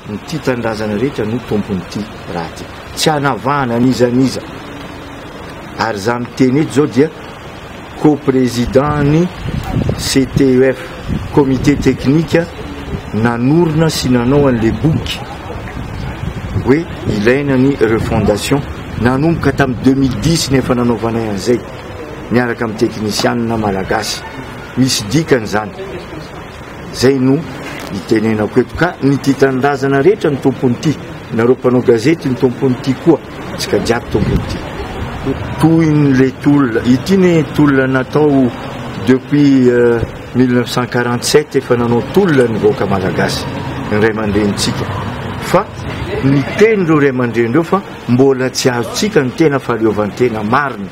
Ny tia tanindrazana rehetra no tompon'ity raha ity. Tsy hanavahana an'iza an'iza. Ary izaho miteny eto izao dia co-président-n'ny CTEF, comité technique nanorina sy nanao an'le boky hoe ilaina ny refondation nanomboka tamin'ny 2010 ny efa nanaovanay an'izay miaraka amin'ny teknisianina malagasy misy dikany izany Zay no itenenako eto ka ny tia tanindrazana rehetra ny tompony tia, nareo mpanao gazety ny tompony tia koa, tsika jiaby tompony tia. Tohiny le tolona ity ne tolona natao depuis mille neuf cent quarante sept efa nanao tolona ny vahoaka malagasy ny ray aman-dreny tsika fa ny teny reo ray aman-dreny reo fa mbola tsy azo tsika ny tena faleovan-tena marina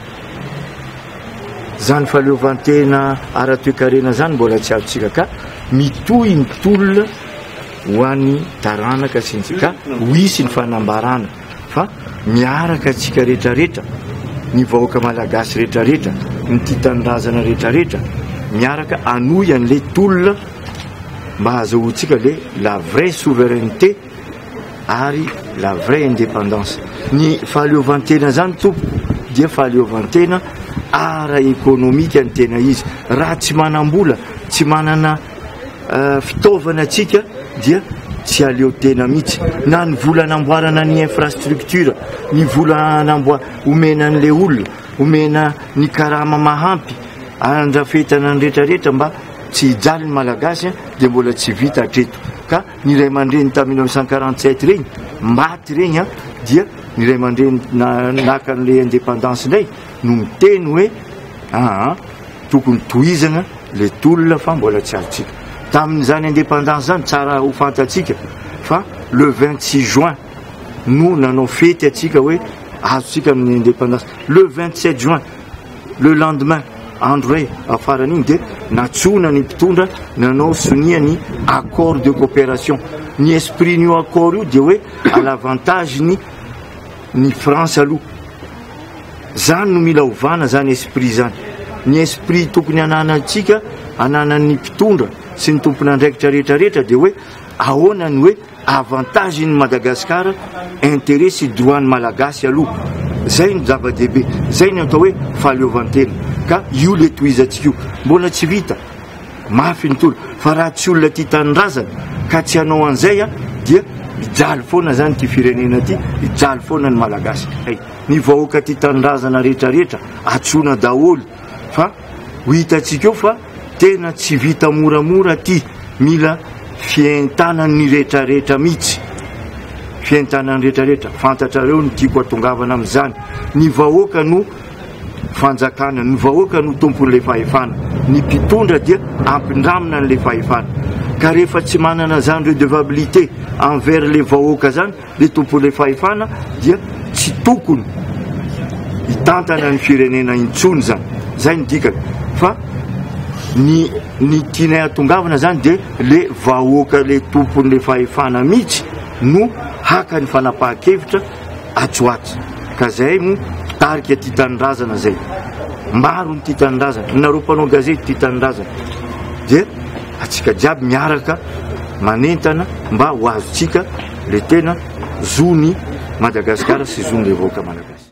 Zany fahaleovantena ara toekarena zany mbola tsy azontsika ka mitohy ny tolona ho any taranaka sy ny ka ho hisy ny fanambarana fa miaraka atsika retraretra ny vahoaka malagasy retraretra ny tia tanindrazana retraretra miaraka anohy anle tolona mba hazahoantsika le la vraie souveraineté ary la vraie indépendance. Ny fahaleovantena izany tompoko dia fahaleovantena ara ekonomika ny tena izy. Raha tsy manam-bola, tsy manana fitaovana tsika dia tsy haleo tena mihitsy. Na ny vola anamboarana ny infrastructure, ny vola anamboa- omena an'ilay olona, omena ny karama mahampy andrafetana ny retraretra mba tsy hijaly ny malagasy dia mbola tsy vita hatreto ka. ny ray aman-dreny tamin'ny mille neuf cent quarante sept ireny maty ireny a dia ny ray aman-dreny naka an'ilay indépendance indray no miteny hoe aa tokony tohizana le tolona fa mbola tsy azontsika tamin'izany indépendance izany tsara ho fantatsika fa le vingt six juin no nanao fety atsika hoe azontsika amin'ny indépendance le vingt sept juin Le lendemain, andro iray afaran'iny dia nantsoina ny mpitondra nanao sonia ny accord de coopération. Ny esprit-n'io accord io dia hoe à l'avantage ny ny France aloha. Zany no mila ovana zany esprit zany. Ny esprit tokony ananantsika, ananan'ny mpitondra sy ny tompon'andraikitra rehetra rehetra dia hoe ahoana ny hoe Avantage ny Madagascar, interet sy droit ny Malagasy aloha. Zay no zava-dehibe. Zay no atao hoe fahaleovantena. Ka io le tohizantsika io. Mbola tsy vita. Mafy ny tolo. Fa raha tsy olona tia tanindrazana ka tsy hanao an'izay dia hijaly foana zany ity firenena ity, hijaly foana ny Malagasy. Hay. Ny vahoaka tia tanindrazana rehetra rehetra, antsoina daholo. Fa ho hitantsika eo fa. Tena tsy vita moramora ty, mila fientanan'ny retraretra mitsy, fientanan'ny retraretra, fantatrareo ny tiako atongavana amzany, ny vahoaka no fanjakana, ny vahoaka no tompon'le fahefana, ny mpitondra dia ampindramina an'le fahefana, ka rehefa tsy manana zany redevabilite envers le vahoaka zany, Ny tompon'ilay fahefana dia tsy tokony hitantana ny firenena intsony zany, zay ny dikany fa ny ny tianay hatongavana zany dia le vahoaka le tompon'le fahefana mihitsy no haka ny fanapahan-kevitra atsy ho atsy ka zay no mpitarika tia tanindrazana zay maro ny tia tanindrazana nareo mpanao gazety tia tanindrazana dia atsika jiaby miaraka manentana mba ho azontsika le tena zony Madagascar sy zony le vahoaka Malagasy.